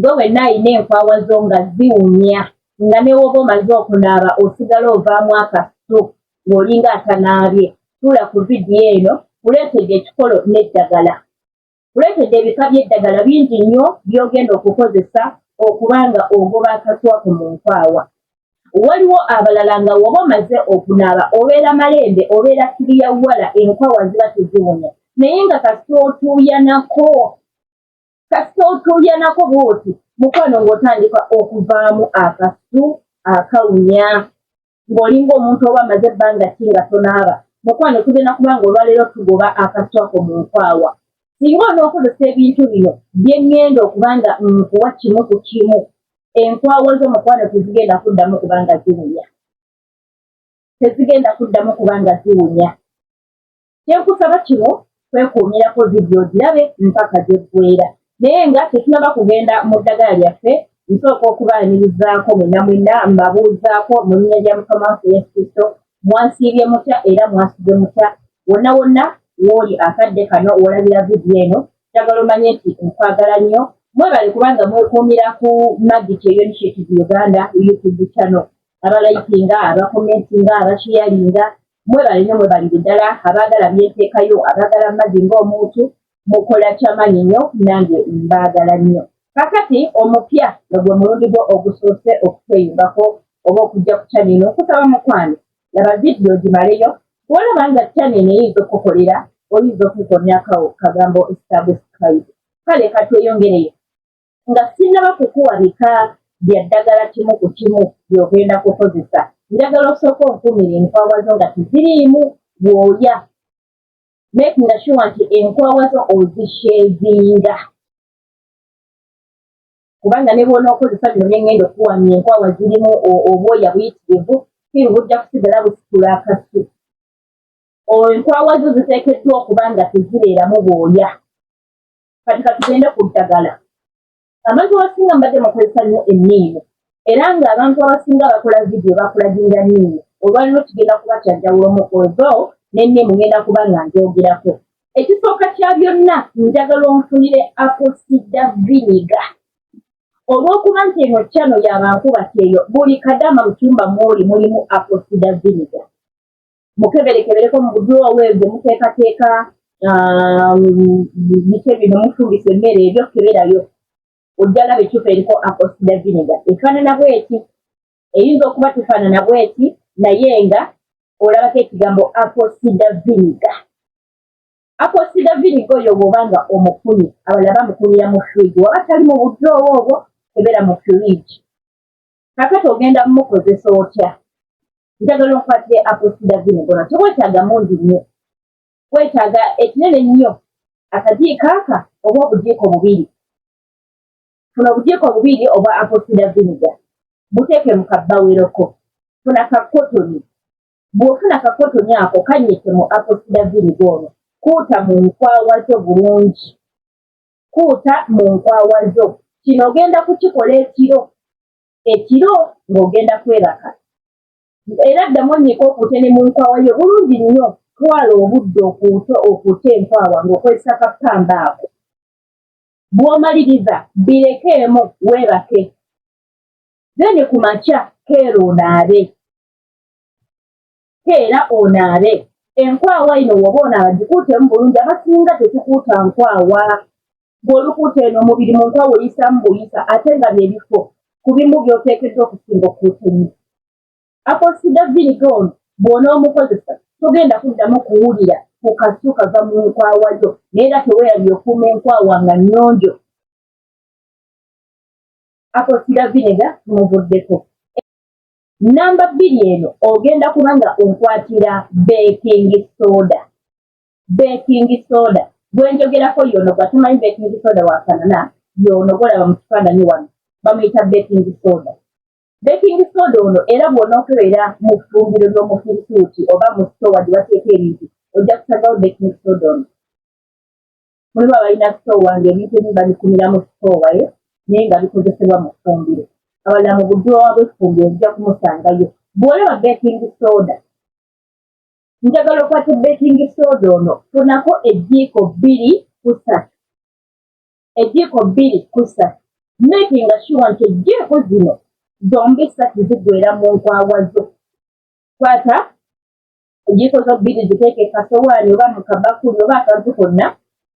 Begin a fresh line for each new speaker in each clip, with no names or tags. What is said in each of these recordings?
gwe wenna alina enkwawa zo nga ziwunya nga newoba omaze okunaaba osigala ovaamu akasu ng'olinga atanaabye tuula ku vidiyo eno kuleetedde ekikolo n'eddagala kuleetedde ebika by'eddagala bingi nnyo by'ogenda okukozesa okuba nga ogoba akatwa ku mu nkwawa waliwo abalala nga woba omaze okunaaba obeera malembe obeera kiriya wala enkwawa ziba teziwunya naye nga kasita otuuyanako kasita otuuyanako bwoti mukwano ng'otandika okuvaamu akasu akawunya ng'olinga omuntu oba amaze ebbanga ki nga tonaaba mukwano tugenda kubanga olwaleero tugoba akasu ako mu nkwawa singa onookozesa ebintu bino bye ŋŋenda okuba nga nkuwa kimu ku kimu enkwawa zo mukwano tezigenda kuddamu kubanga ziwunya tezigenda kuddamu kubanga ziwunya kyenkusaba kino kwekuumirako vidiyo ogirabe mpaka gyeggweera naye nga tetunaba kugenda mu ddagala lyaffe nsooka okubaanirizaako mwena mwena mbabuuzaako mu linnya lya mukama waffe yesu kristo mwansiibye mutya era mwasize mutya wonna wonna wooli akadde kano wolabira vidiyo eno njagala omanye nti nkwagala nnyo mwebale kubanga mwekuumira ku magic eyonitiative uganda youtube channel abalayikinga abakomentinga abasheyalinga Mwebale nyo mwebalire dala abagala byentekayo abagala Maggie nga omuntu mukola kyamanyi nyo nange mbagala nyo. Kakati omupya nga gwe mulundi gwo ogusoose okutweyungako oba okujja ku channel eno nkusaba mukwano laba video gimaleyo bwolaba nga channel eno eyinza okukukolera oyinza okukukomyako kagambo subscribe kale katweyongereyo nga sinnaba kukuwa bika bya ddagala kimu ku kimu by'ogenda kukozesa njagala osooka onkuumira enkwawa zo nga teziriimu bwoya makinga shuwa nti enkwawa zo ozisheezinga kubanga ne bwonookozesa bino byengenda okukuwamya enkwawa zirimu obwoya buyitirivu kiri bujja kusigala busitula akasi enkwawa zo ziteekeddwa okuba nga tezibeeramu bwoya kati katugende ku ddagala abantu abasinga mbadde mukozesa nnyo enniimu era nga abantu abasinga bakola vidiyo bakulaginga nniimu olwaliro kigenda kuba kyajjawulomu ozo nenniimu ngenda kuba nga njogerako ekisooka kya byonna njagala onfunire aposida viniga olw'okuba nti eno kyano yabankuba kyeyo buli kadama mu kyumba mwoli mulimu aposida viniga mukeberekebereko mu buduroowa eyo gye muteekateeka um, biki ebyo ne mufumbisa emmere ebyo keberayo ojja laba ecupa eriko apostida viniga efaanana bweti eyinza okuba tefaanana bweti naye nga olabako ekigambo apostida viniga apostida viniga oyo bwoba nga omukuni abalaba mukunira mu fridge waba tali mu buduroowa obwo kebera mu fridge kakati ogenda mukozesa otya njagala onkwatire apostida vine gona tewetaaga mungi nnyo wetaaga ekinene nnyo akajiiko aka oba obujiiko bubiri funa obujiiko bubiri obwa apostida viniga buteeke mu kabbaweroko funa kakotoni bw'ofuna kakotoni ako kanyike mu apostida viniga ono kuuta mu nkwawa zo bulungi kuuta mu nkwawa zo kino ogenda kukikola ekiro ekiro ng'ogenda kwebaka era ddamu onnyika okuute ne mu nkwawa yo bulungi nnyo twala obudde okuuta okuute enkwawa ng'okozesa kapamba ako bw'omaliriza birekeemu weebake then ku makya keera onaabe ke era onaabe enkwawa ino woba onaaba gikuutemu bulungi abasinga tetukuuta nkwawa bw'olukuuta eno omubiri mu nkwawa oyisamu buyisa ate nga byebifo ku bimu by'oteekeddwa okusinga okukuuta ennyo akosida viniga ono bw'onoomukozesa togenda kuddamu kuwulira ku kasu kava mu nkwawa yo naye era teweerabye okuuma enkwawa nga nnyonjo akosida viniga muvuddeko namba bbiri eno ogenda kuba nga onkwatira baking soda baking soda gwenjogerako yono gwatumanyi baking soda wafanana yono golaba mu kifaananyi wano bamuyita baking soda baking soda ono era bwona okubeera mu ffumbiro ly'omufirisuuti oba mu sitowa gye bateeka ebintu ojja kusagawo baking soda ono mulimu abalina sitoowa ng'ebintu ebimu babikumira mu sitoowa ye naye nga bikozesebwa mu ffumbiro abalala mu budulowa bw'effumbiro ojja kumusangayo bw'olaba bekingi sooda njagala okwate bekingi sooda ono funako ejiiko bbiri kusatu ejiiko bbiri kusatu makinga shuwa nti ejiiko zino zombi satu zigwera mu nkwawa zo kwata enjiiko zo bbiri ziteeke kasowaani oba mu kabakuli oba akantu konna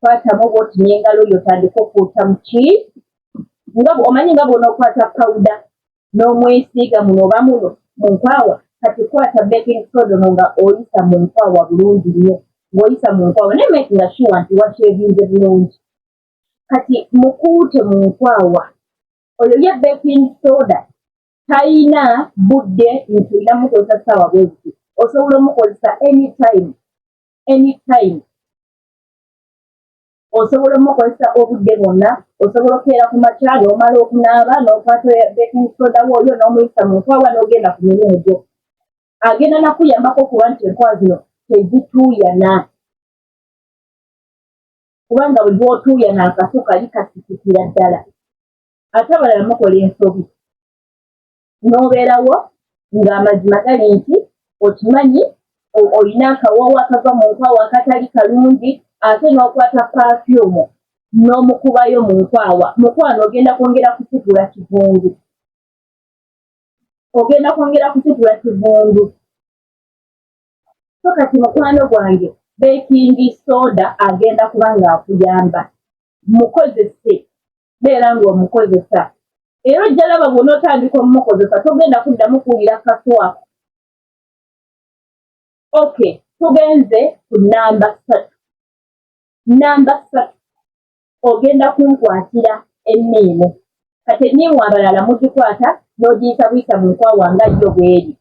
kwatamu bwoti n'engalo yo otandika okuuta mu ki nga omanyi nga bwonookwata pawuda n'omwesiiga muno oba muno mu nkwawa kati kwata baking soda ono nga oyisa mu nkwawa bulungi nnyo ng'oyisa mu nkwawa naye make nga sure nti wakyebinze bulungi kati mukuute mu nkwawa oyo ye baking soda talina budde nti olina mukozesa ssaawa bweziti osobola omukozesa anytime anytime osobola omukozesa obudde bwonna osobola okukeera ku makya n'omala okunaaba n'okwata baking soda wooyo n'omuyisa mu nkwawa n'ogenda ku mirimu gyo agenda nakuyambako okuba nti enkwa zino tezituuyana kubanga buli lwotuuyana akaso kali kasisikira ddala ate abalala mukola ensobi n'obeerawo ng'amazima gali nti okimanyi olina akawawo akava mu nkwawo akatali kalungi ate n'okwata pafyumu n'omukubayo mu nkwawa mukwano ogenda kwongera kusitula kivundu ogenda kwongera kusitula kivundu so kati mukwano gwange bekingi soda agenda kuba ng'akuyamba mukozese beera ng'omukozesa era ojja laba bw'onootandika omukozesa togenda kuddamu kuwulira kaswako okay tugenze ku namba ssatu namba ssatu ogenda kunkwatira enniimu kati enniimu abalala mugikwata n'ogiyita buyita mu nkwawa nga yo bweri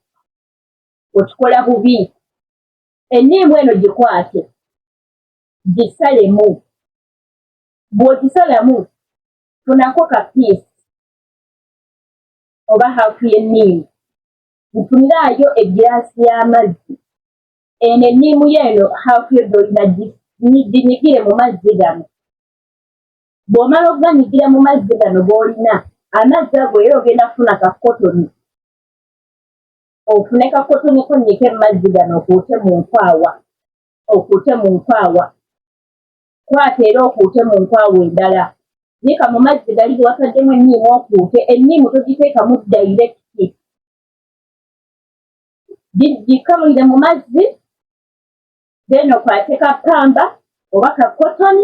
okikola bubi enniimu eno gikwate gisalemu bw'okisalamu funako ka piisi oba haafu y'enniimu nfuniraayo egiraasi y'amazzi eno enniimu yeeno haafu yo gyolina ginyigire mu mazzi gano bw'omala okuganyigira mu mazzi gano g'olina amazzi ago era ogenda kufuna ka kotoni ofune ka kotoni konnyike mu mazzi gano okuute mu nkwawa okuute mu nkwawa Kwata era okuute mu nkwawa endala. Yiika mu mazzi gali ge wataddemu enniimu okuute. Enniimu togiteekamu dayirekiti. Gikamulire mu mazzi, then okwate ka ppamba oba ka kotoni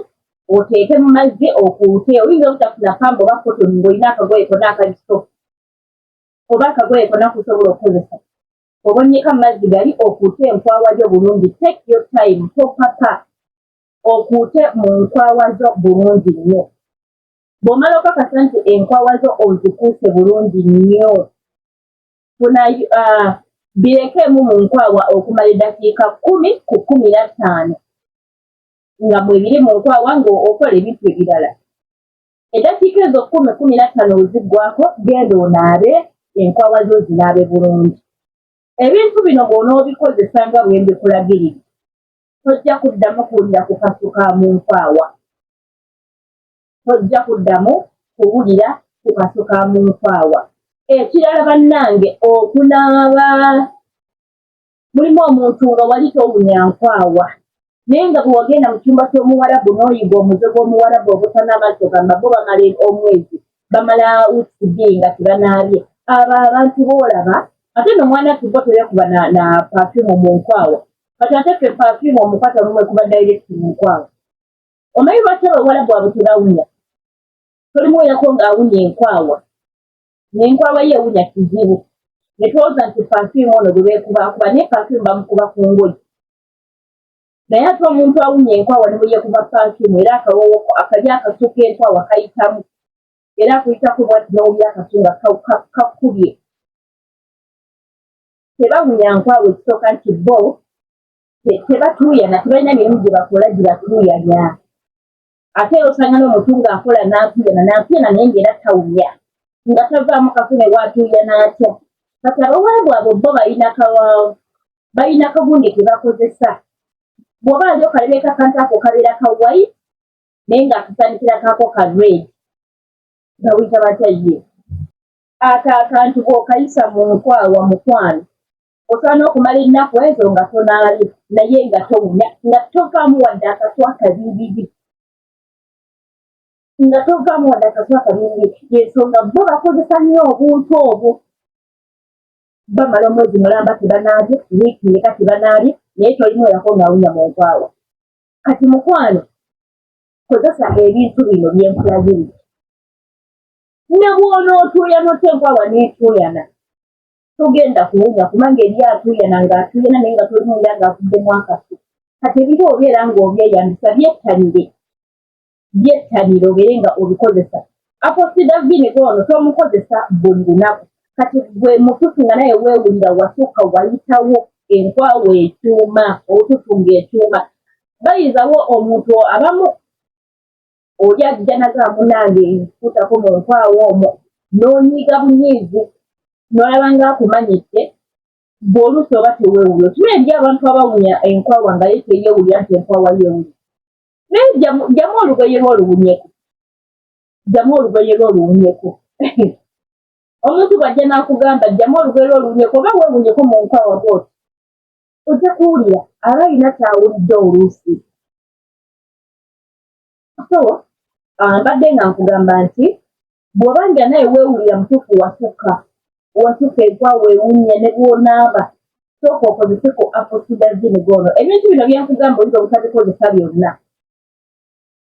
oteeke mu mazzi okuute. Oyinza obutafuna ppamba oba kotoni ng'olina akagoye kona akali sofu oba akagoye kona kusobola okukozesa. Obonnyeka mu mazzi gali okuute enkwawa yo bulungi. Take your time, topapa. okuute mu nkwawa zo bulungi nnyo bw'omala okakasa nti enkwawa zo ozikuuse bulungi nnyo funa uh, birekeemu mu nkwawa okumala eddakiika kkumi ku kkumi na ttaano nga mwebiri mu nkwawa ng'okola ebintu ebirala eddakiika ezo kkumi kkumi na ttaano weziggwako genda onaabe enkwawa zo zinaabe bulungi ebintu bino bw'onoobikozesa nga bwe mbikulagiridde tojja kuddamu kuwulira kukasuka mu nkwaawa tojja kuddamu kuwulira kukasuka mu nkwaawa ekirala bannange okunaaba mulimu omuntu nga wali towunya nkwaawa naye nga bwe wagenda mu kyumba ky'omuwarabu n'oyiga omuze gw'omuwarabu obutana amazzi ogamba bo bamala omwezi bamala wiiki bbiri nga tebanaabye abo abantu boolaba ate nomwana tubo tebekuba na pafyumu mu nkwawa kati ate ffe perfume omukata olumwe kuba direct munkwawa omanyi lwaki abawalabu abo tebawunya tolimuweyako ng'awunya enkwawa nenkwawa ye ewunya kizibu netwoza nti perfume ono bwebekubakuba naye perfume bamukuba ku ngoyi naye ate omuntu awunya enkwawa nebweyekuba perfume era akawowoko akali akasuka enkwawa kayitamu era akuyitako bwati nowulya akasunga kakubye tebawunya nkwawe ekisooka nti bo tebatuuyana tebalina mirimu gye bakola gye batuuyanya ate era osanga n'omuntu ng'akola n'atuuyana n'atuuyana naye ng'era tawunya nga tavaamu kafune waatuuyana atya kati abawaabu abo bo balina kawaawo balina kagundi ke bakozesa bw'oba nze okalebeeka akantu ako kabeera ka white naye ng'akasaanikira kaako ka red bawuyita batya ye Ako akantu bw'okayisa mu nkwawa mukwano osobola n'okumala ennaku ezo nga tonaalya naye nga towunya nga tovaamu wadde akaswa kabiibiri nga tovaamu wadde akaswa kabiibiri y'ensonga bo bakozesa nnyo obuntu obwo bamala omwezi mulamba tebanaabye wiiki yeka tebanaabye naye tolimu erako ng'awunya mu nkwawa kati mukwano kozesa ebintu bino byenkulagirira ne bw'onootuuyana otya enkwa waneetuuyana togenda kuwunya kubanga eri atuuyana ng'atuuyana naye nga tolimuwulira ng'akuddemu akafu kati ebintu obeera ng'obyeyambisa byettanire byettanire obeere nga obikozesa aposidavini gwono tomukozesa buli lunaku kati gwe mututu nga naye weewulira wasukka wayitawo enkwawa ekyuma obututu ng'ekyuma bayinzawo omuntu abamu oli ajja naga munange nkutako mu nkwawo omwo n'onyiiga bunyiizi n'olaba nga akumanyidde bw'oluusi oba teweewulira okiba eri abantu abawunya enkwawa nga ye teyeewulira nti enkwawa yeewulira naye jjamu olugoye lwo oluwunyeko jjamu olugoye lwo oluwunyeko omuntu bw'ajja n'akugamba jjamu olugoye lwo oluwunyeko oba weewunyeko mu nkwawa bwoti ojja kuwulira aba alina kyawulidde oluusi so ah, mbadde nga nkugamba nti bw'oba nga naye weewulira mutuufu wasukka wasukka egwa weewunya ne bw'onaaba sooka okozeseko aposidazini goono ebintu bino byenkugamba oyinza obutabikozesa byonna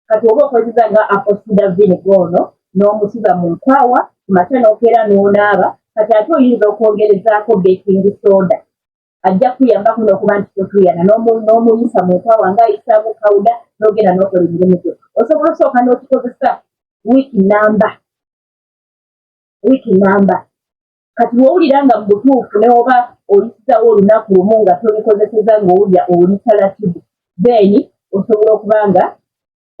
kati oba okozesa nga aposidazini goono n'omusiba mu nkwawa kumakya n'okeera n'onaaba kati ate oyinza okwongerezaako baking soda ajja kukuyambako n'okuba nti totuyana n'omuyisa mu nkwawa nga ayisaamu kawuda n'ogenda n'okola emirimu gyo osobola okusooka n'okikozesa wiiki namba wiiki namba kati wowulira nga mu butuufu newoba oyisizawo olunaku lumu nga tobikozeseza ng'owulira oli talatibu then osobola okuba nga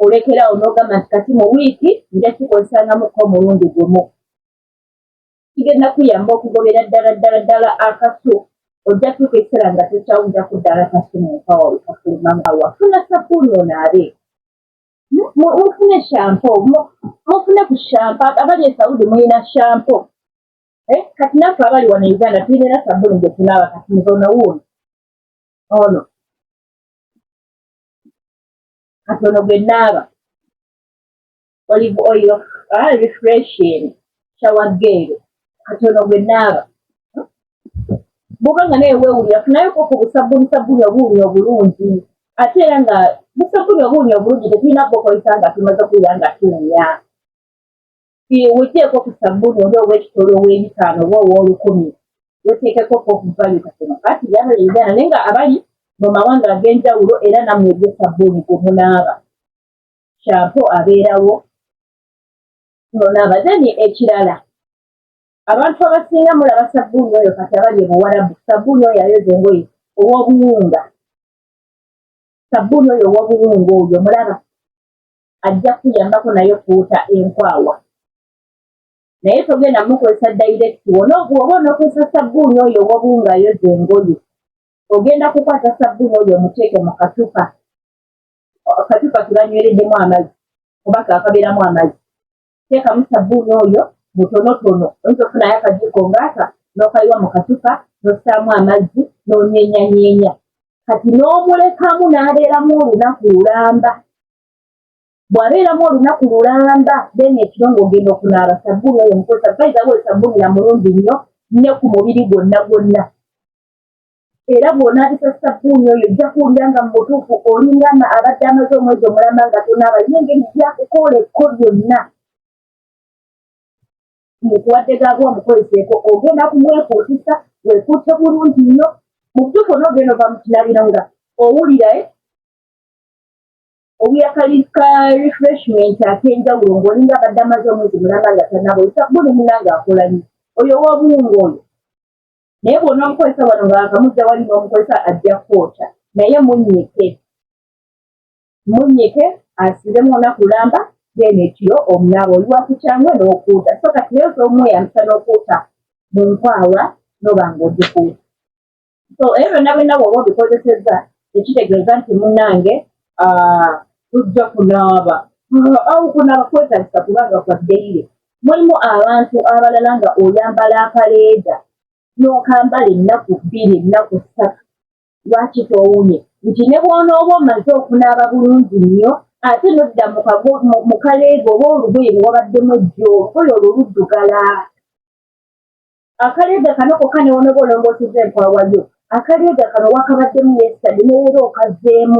olekerawo n'ogamba nti kati mu wiiki nja kikozesangamuko omulundi gumu kigenda kuyamba okugobera ddala ddala ddala akasu ojja tuuka ekiseera nga tokyawuja ku ddala kasu mu nkawa wekafuluma nga wafuna sabuuni onaabe mufune shampo mufune ku shampo abali esaudi mulina shampo eh, kati naffe abali wano uganda tulinera sabuuni gyetunaaba kati muzono wuuno ono katono gwe naaba olive oil ah, refreshing shower gel katono gwe naaba bwoba nga naye weewulira funayo koko busabbuni sabbuni obuwunya obulungi ate era nga busabbuni obuwunya obulungi tetulina kubukozesa nga tumaze okuwulira nga tuwunya weteeko ku sabbuni oba owekitolo ow'ebitaano oba ow'olukumi weteekeko ko okuvayo katono kati yaba uganda naye nga abali mu mawanga ag'enjawulo era namwe ebyo sabbuni gwe munaaba kyampo abeerawo nonaba then ekirala abantu abasinga mulaba sabbuuni oyo kati abali ebuwarabu sabbuuni oyo ayoza engoye owobuwunga sabbuuni oyo owobuwunga oyo mulaba ajja kuyambako naye okuuta enkwawa naye togenda mukozesa direct wona oba onokozesa sabbuuni oyo owobuwunga ayoza engoye ogenda kukwata sabbuuni oyo omuteeke mu katupa akatipa kebanywereddemu amazzi oba kakabeeramu amazzi teekamu sabbuuni oyo mutonotono oyinza okufunayo akajiiko ngaaka n'okayiwa mu katupa n'ossaamu amazzi n'onyenyanyeenya kati n'omulekamu n'abeeramu olunaku lulamba bw'abeeramu olunaku lulamba then ekiro ng'ogenda okunaaba sabbuuni oyo mukozesa bayizawo esabbuuni na mulungi nnyo ne ku mubiri gwonna gwonna era bw'onaabisa ssabbuuni oyo ojja kuwulira nga mu butuufu olingana abadde amaze omwezi omulamba nga tonaaba yina engeri gyakukoola ekko lyonna mukuwadde gaabwa omukoleseeko ogenda kumwekuutisa wekuute bulungi nnyo mu butuufu onoogenda ova mu kinabiro nga owulirae eh? owulira ka refreshment ak'enjawulo ng'olinga abadde amaze omwezi mulamba nga tanaaba oyo ssabbuuni munanga akola nnyo oyo ow'obuwunga oyo naye bwona omukozesa wano ngaakamuza wali n'omukozesa ajja kwokya naye munyike munyike asiremu olunaku lamba then ekiro omunaaba oli wakukyangwe n'okuuta so kati naye osa omweyambisa n'okuuta mu nkwawa noba ng'ogikuuta so ebyo byonna byonna bwoba obikozesezza ekitegeeza nti munange ah, tujja kunaaba awo kunaaba kwetagisa kubanga kwa ddeire Mulimu abantu abalala nga oyambala akaleeda n'okambala ennaku bbiri ennaku ssatu lwaki towumye nti ne bw'onooba omaze okunaaba bulungi nnyo ate nodda mu kaleega oba olugoye lwe wabaddemu ejjo olugoye olwo luddugala akaleega kano kokka ne wonooba olongooseza enkwawayo akaleega kano wakabaddemu yesitade neera okazeemu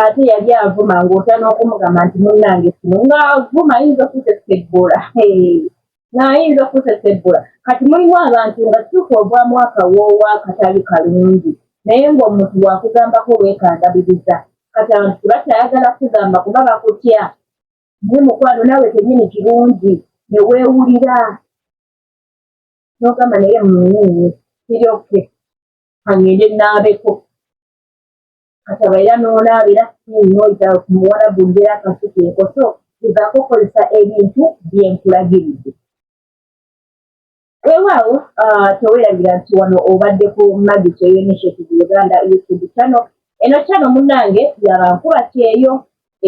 ate yali avuma ng'ota n'okumugamba nti munnange kino ng'avuma ayinza okutesebbula naayinza okutesebbula kati mulimu abantu nga kituufu ogwa mwaka woowa akatali kalungi naye ng'omuntu wakugambako weekandabiriza kati abantu tebakyayagala kugamba kuba bakutya ye mukwano naawe kenyini kirungi ne weewulira n'ogamba naye munyini kiryoke angende naabeko Kataba era n'onaaba era skin noyita ku muwalabu ngera akasuka enkoso gezaako okukozesa ebintu bye nkulagiridde. Weewaawo ah, teweerabira nti wano obadde ku magi kyeyo initiative Uganda YouTube channel. Eno channel munnange yabankuba kyeyo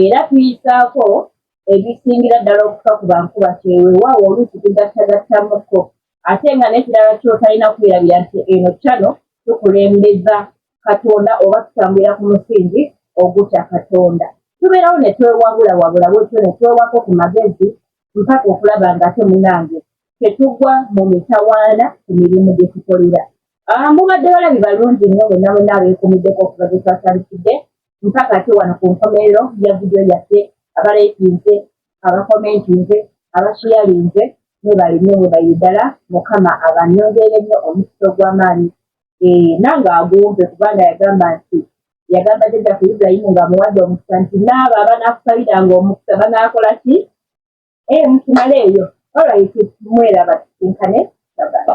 era tuyisaako ebisingira ddala okufa ku bankuba kyeyo weewaawo oluusi tugattagattamukko ate nga n'ekirala kyotalina kwerabira nti eno channel tukulembeza Katonda oba tutambulira ku musingi ogutya Katonda. Tubeerawo ne twewabulawabula bwetyo ne twewako ku magezi mpaka okulaba nga ate munange tetugwa mu mitawaana ku mirimu gye tukolera. Ah, mubadde balabi balungi nnyo mwenna mwenna abeekumiddeko okuva gye twatandikidde mpaka ate wano ku nkomerero ya vidiyo yaffe abaleekinze abakomentinze abashiyalinze mwebalinyo mwebaire ddala mukama abanyongeere nnyo omukisa ogw'amaanyi eh, nange agumpe kubanga yagamba nti yagamba jajja ku ibulayimu nga amuwadde omukisa nti naabo abanakusaliranga omukisa banakola ki eh, mukimale eyo olwait mweraba kisinkane baba